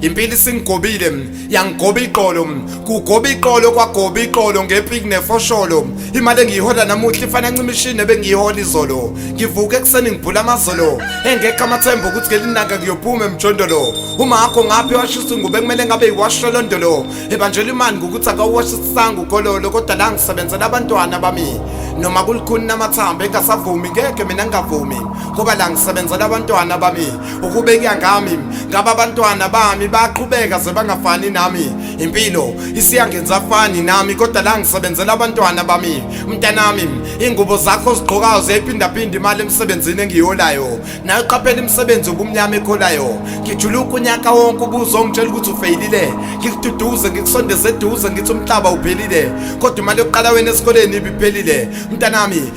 impilo isingigobile yangigoba iqolo kugoba iqolo kwagoba iqolo ngepik nefosholo imali engiyihola namuhla ifana ncimishini ebengiyihola izolo ngivuka ekuseni ngibhula amazolo engekho amathemba ukuthi ngelinanga ngiyophuma emjondolo uma akho ngaphi washisa ingube kumele ngabe yiwasholondolo ebanjela imani ngokuthi akawuwashisisanga ukololo kodwa la ngisebenzela abantwana bami noma kulikhuni namathambo engasavumi ngeke mina ngingavumi ngoba la ngisebenzela abantwana bami ukubeka ngami ngaba abantwana bami baqhubeka sebangafani nami impilo isiyangenza afani nami kodwa la ngisebenzela abantwana bami mntanami ingubo zakho zigqokayo ziyayiphindaphinda imali emsebenzini engiyolayo nayo qaphela imisebenzi ubumnyama ekholayo ngijuluka unyaka wonke ubuzo ongitshela ukuthi ufeyilile ngikududuze ngikusondeze eduze ngithi umhlaba uphelile kodwa imali yokuqala wena esikoleni ibiphelile mntanami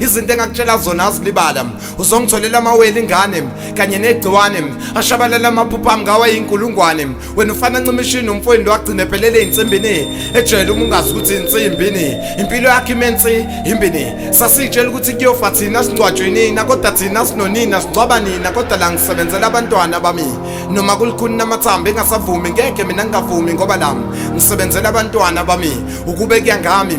izinto engakutshela zona azilibala uzongitholela amawele ingane kanye negciwane ashabalala amaphupha ami ngawa yinkulungwane wena ufana ncimishini umfweni lwagcina ephelele ey'nsimbini ejele uma ungazi ukuthi insimbini impilo yakhe imensi imbini sasiyitshela ukuthi kuyofa thina singcwatshweni na kodwa thina sinonina singcwaba nina kodwa la ngisebenzela abantwana bami noma kulikhuni namathambo engasavumi ngeke mina ngingavumi ngoba lami ngisebenzela abantwana bami ukube kuyangami